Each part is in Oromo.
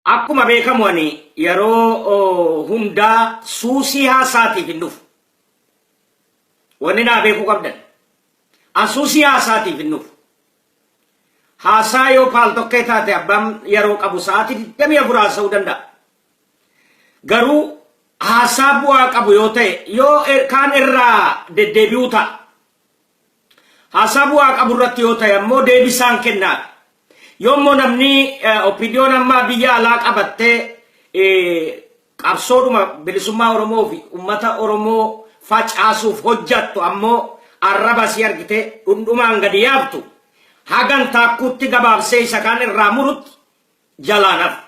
Akkuma beekamu ani yeroo hundaa suusii haasaatiif hin dhufu. Wanni naa beekuu qabdan. An suusii haasaatiif hin dhufu. Haasaa yoo paal tokkee taate abbaan yeroo qabu sa'aatii 24 haasa'uu danda'a. Garuu haasaa bu'aa qabu yoo ta'e yoo kaan irraa deddeebi'uu ta'a. Haasaa bu'aa qabu irratti yoo ta'e ammoo deebisaan kennaadha. Yoo immoo namni OPDOn amma biyya alaa qabattee qabsoodhuma bilisummaa Oromoo fi uummata Oromoo facaasuuf hojjattu ammoo arraba isii argite dhundhumaan gadi yaabtu hagan taakkuutti gabaabsee isa kaan irraa murutti jalaan hafa.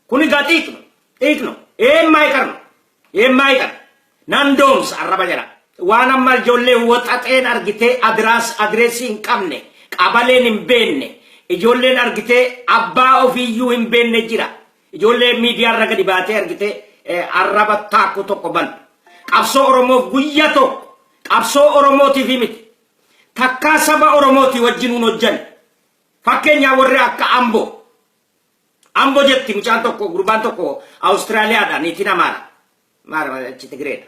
Kun egaa xiiqno, xiiqno, eemmaa iqarno, eemmaa iqar, nan doomsa arraba jala. Waan amma ijoollee waxaxeen argitee adiraas adireessii hin qabne, qabaleen hin beenne, ijoolleen argitee abbaa ofiiyyuu hin beenne jira. Ijoollee miidiyaa irra gadi baatee argitee eh, arraba taakkuu tokko banu. Qabsoo Oromoof guyyaa tokko qabsoo Oromootiif miti. Takkaa saba Oromootii wajjinuun hojjanne. Fakkeenyaa warri akka Amboo. Ambo jetti mucaan tokko gurbaan tokko Australia dha niitiin Amaara. Maara achi Tigree dha.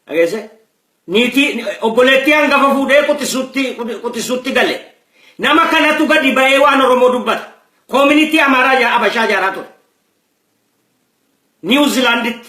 Dhageesse? Niitii obboleettii hangafa fuudhee quxisuutti quxisuutti gale. Nama kanatu gadi ba'ee waan Oromoo dubbata. Koominitii Amaaraa ijaa- Abashaa ijaaraa ture. Niiw Zilaanditti.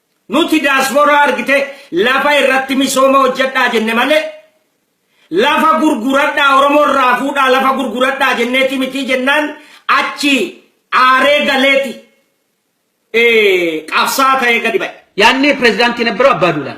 Nuti Daaspooraa argitee lafa irratti misooma hojjadhaa jenne malee lafa gurguradhaa Oromoo irraa fuudhaa lafa gurguradhaa jenneeti mitii jennaan achi aaree galeeti qabsaa ta'ee gadi ba'e. Yaadni pirezidaantii Nabbaroo Abbaa Duulaa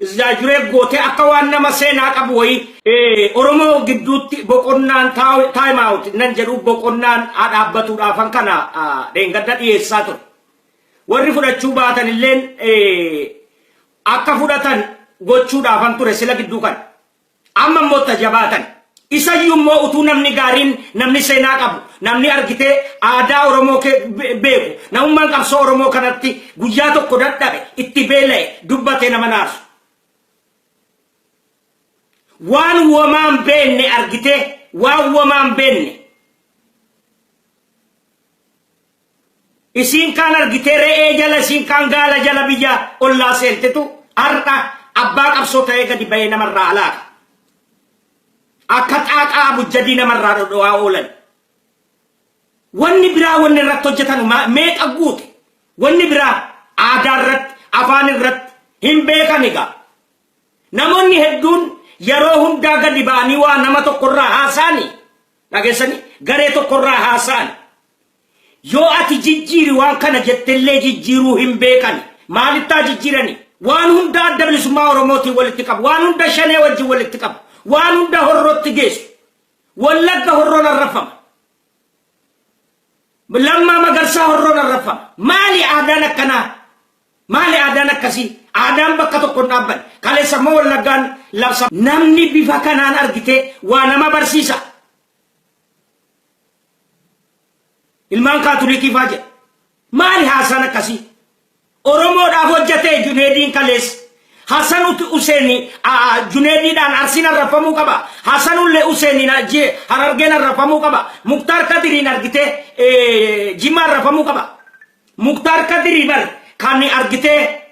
Exaggerate gootee akka waan nama seenaa qabu wayii. Oromoo gidduutti boqonnaan time out nan jedhu boqonnaan haa dhaabbatuudhaafan kana dheengadda dhiyeessaa ture. Warri fudhachuu baatan illeen akka fudhatan gochuudhaafan ture sila gidduu kana. Amma immoo itti ha jabaatan. Isayyuu immoo utuu namni gaariin, namni seenaa qabu, namni argitee aadaa Oromoo kee beeku, namummaan qabsoo Oromoo kanatti guyyaa tokko dadhabe, itti beela'e, dubbatee nama hin aarsu. Waan womaa hin beenne argitee, waan womaa hin beenne. Isiin kaan argitee re'ee jala isiin kaan gaala jala biyya ollaa seentetu har'a abbaa qabsoo ta'ee gadi bahee nama irraa halaaka. Akka xaaqaa abujjadii nama irraa dhodho'aa oolan. Wanni biraa wanni irratti hojjetan ma- meeqa guute? Wanni biraa aadaa irratti, afaan irratti hin beekan egaa. Namoonni hedduun yeroo hundaa gadi ba'anii waa nama tokkorraa haasaani. Dhageessanii garee tokkorraa haasaani. Yoo ati jijjiiri waan kana jettellee jijjiiruu hin beekani. Maalittaa jijjiirani? Waan hunda Adda Bilisummaa Oromootiin walitti qabu. Waan hunda Shanee wajjin walitti qabu. Waan hunda Horrootti geessu. Wallagga Horroon arrabfama. Lammaa Magarsaa Horroon arrabfama. Maali aadaan akkanaa? Maali aadaan akkasii? Aadaan bakka tokko hin dhaabbanne. Kaleessa immoo Wallaggaan labsa. Namni bifa kanaan argitee waa nama barsiisa. Ilmaan Kaatolikii faa jedha. Maali haasaan akkasii? Oromoodhaaf hojjatee Juneediin kaleessa. Hasan Useeni Juneediidhaan Arsiin arrabfamuu qaba. Hasan Ulle Useeniin Harargeen arrabfamuu qaba. Muktaar Kadiriin argitee Jimmaa arrabfamuu qaba. Muktaar Kadirii bar kan argitee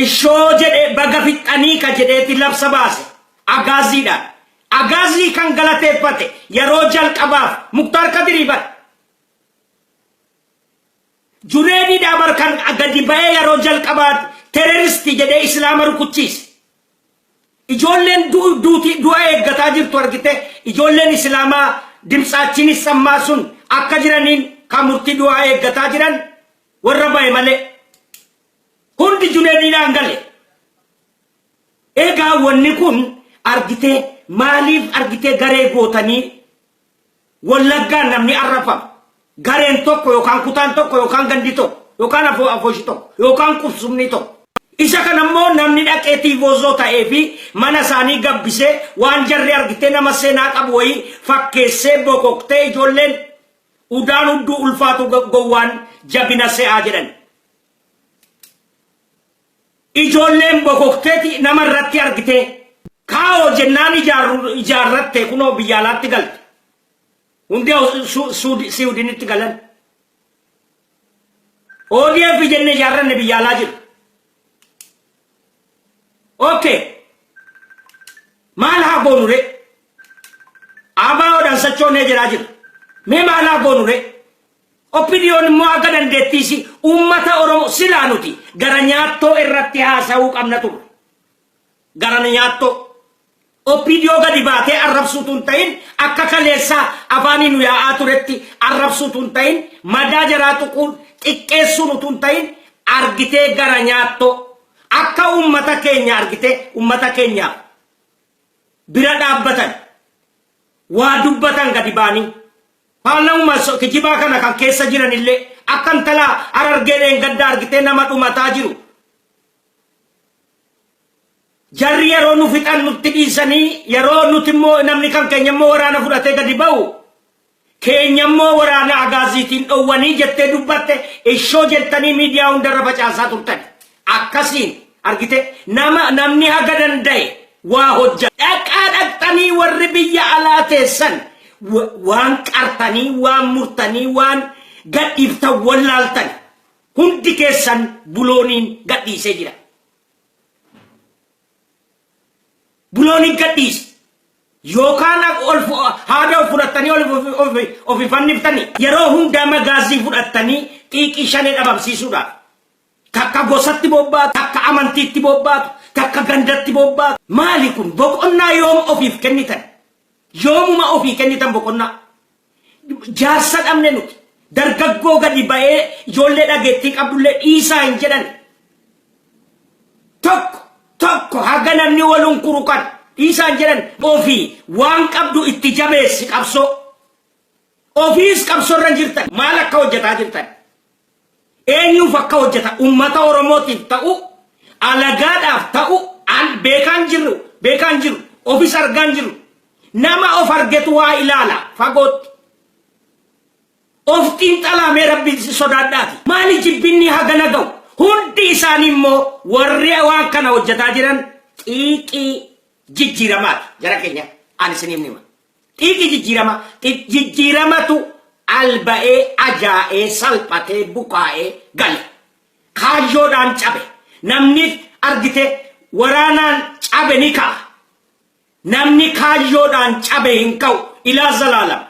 Ishoo jedhe baga fixxanii ka jedheeti labsa baase Agaazziidhaan. Agaazzii kan galateeffate yeroo jalqabaaf Muktaar Kadirii bar. Juneediidhaa bar kan gadi ba'ee yeroo jalqabaati tereristi jedhee Islaama rukuchiise. Ijoolleen duuti du'a eeggataa jirtu argitee ijoolleen Islaamaa dimtsaachin issammaa sun akka jiraniin kan murtii du'aa eeggataa jiran warra ba'e malee. Hundi Junediinaan gale. Egaa wanni kun argitee maaliif argitee garee gootanii wallaggaan namni arrafama. Gareen tokko yookaan kutaan tokko yookaan gandi tokko yookaan afoo afooshi tokko yookaan qubsumni tokko. Isa kana immoo namni dhaqee tiivoozoo ta'ee fi mana isaanii gabbisee waan jarri argitee nama seenaa qabu wayii fakkeessee bokoktee ijoolleen udaan hudduu ulfaatu gowwaan jabina se'aa jedhan. Ijoolleen bokokteeti nama irratti argitee kaawoo jennaan ijaarru- ijaarratte kunoo biyya alaatti galte. Hundi Aus- Su- Suudi- Siwudinitti galan. ODF jenne ijaarranne biyya alaa jiru. Okay. Maal haa goonu ree? Abaawoodhaan sochoonee jiraa jiru. Mee maal haa goonu ree? OPDOn immoo akka dandeettii ishii uummata Oromoo silaa nuti gara nyaattoo irratti haasa'uu qabna turre. Gara nyaattoo. OPDO gadi baatee arrabsuu utuu hin ta'in akka kaleessaa afaanii nu yaa'aa turetti arrabsuu utuu hin ta'in madaa jaraa tuquun xiqqeessuun utuu hin ta'in argitee gara nyaattoo akka uummata keenya argitee uummata keenyaaf bira dhaabbatan waa dubbatan gadi baanii Paarlawuma kijibaa kana kan keessa jiran illee akka intala Harargee dheengadda argitee nama dhumataa jiru. Jarri yeroo nu fixan nutti dhiisanii yeroo nuti immoo namni kan keenya immoo waraana fudhatee gadi ba'u keenya immoo waraana agaaziitiin dhowwanii jettee dubbatte ishoo jettanii miidiyaa hundarra facaasaa turtan. akkasiin argitee nama namni haga danda'e waa hojja. Dhaqaa dhaqxanii warri biyya alaa teessan waan qartanii waan murtanii waan gadhiiftan wallaaltan hundi keessan bulooniin gadhiisee jira. Bulooniin gadhiise. Yookaan haada of fudhattanii of ifanniftanii yeroo hundaa magaazii fudhattanii xiiqii shanee dhabamsiisuudhaaf. Takka gosatti bobbaatu, takka amantiitti bobbaatu, takka gandatti bobbaatu. Maali kun? Boqonnaa yoom ofiif kennitan? Yoomuma ofii kennitan boqonnaa? Jaarsa dhabne nuti. Dargaggoo gadi ba'ee ijoollee dhageettii qabdullee dhiisaa hin jedhan. Tokko tokko haga namni wal hunkuru kan dhiisaa hin jedhan. Ofii waan qabdu itti jabeessi qabsoo. Ofiis qabsorra jirtan maal akka hojjetaa jirtan eenyuuf akka hojjetan ummata Oromootiif ta'uu alagaadhaaf ta'uu an beekaan jirru beekaan jiru ofis argaan jiru nama of argetu waa ilaala fagootti of xiinxalaa mee rabbiin si sodaadhaati maali jibbinni hagana ga'u hundi isaanii immoo warri waan kana hojjetaa jiran xiiqii jijjiiramaati gara keenya an isiniif nima Xiiqii jijjiirama xiq jijjiiramatu al ba'ee ajaa'ee salphatee bukaa'ee gale. Kaayyoodhaan cabe. Namni argite waraanaan cabe ni ka'a. Namni kaayyoodhaan cabe hin ka'u. Ilaa zalaalam.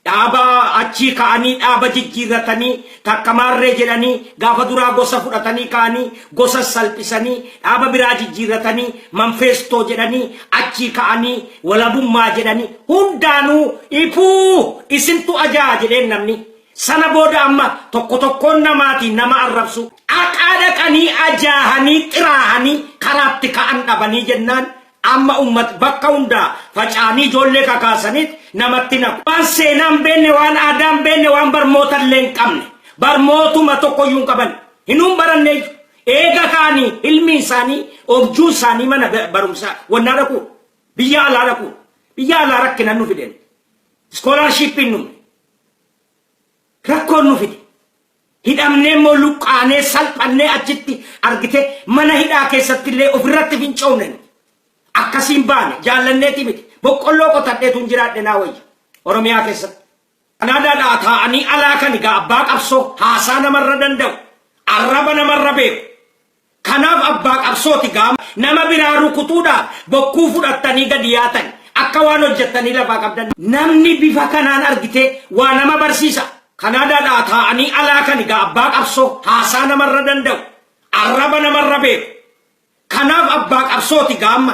Dhaaba achii ka'anii dhaaba jijjiirratanii Takka maarree jedhanii gaafa duraa gosa fudhatanii ka'anii gosas salphisanii dhaaba biraa jijjiirratanii manfeestoo jedhanii achii ka'anii walabummaa jedhanii hundaanuu ipuu isintu ajaa'a jedheen namni. Sana booda amma tokko tokkoon namaatiin nama arrabsuu. Aqaa dhaqanii ajaahanii xiraahanii karaatti ka'an dhabanii jennaan Amma ummat bakka hundaa facaanii ijoollee kakaasaniit namatti naqu. Waan seenaa hin beenne, waan aadaa hin beenne, waan barmoota illee hin qabne. Barmootuma tokko iyyuu hin qaban. Hinuu baranne iyyuu. Eega ka'anii hilmiin isaanii, objuun isaanii mana barumsaa wannaa dhaquu. Biyya alaa dhaquu. Biyya alaa rakkinan nu fide. Iskoolaarshiippiin nu rakkoon nu fide. Hidhamnee immoo luqqaanee, salphannee achitti argite mana hidhaa keessatti illee of irratti fincoofne nuti. Akkasiin baane, jaallanneetii miti. Boqqolloo qotadheetuun jiraadhe naa wayya. Oromiyaa keessatti. Kanaadaadhaa taa'anii alaa kan egaa abbaa qabsoo, haasaa namarra danda'u, arraba namarra beeku. Kanaaf abbaa qabsooti gaa nama biraa rukutuudhaaf bokkuu fudhattanii gadi yaatani akka waan hojjattanii lafaa qabdan. Namni bifa kanaan argite waa nama barsiisa. Kanaadaadhaa taa'anii alaa kani gaa abbaa qabsoo haasaa namarra danda'u. Arraba namarra beeku. Kanaaf abbaa qabsooti gaa amma.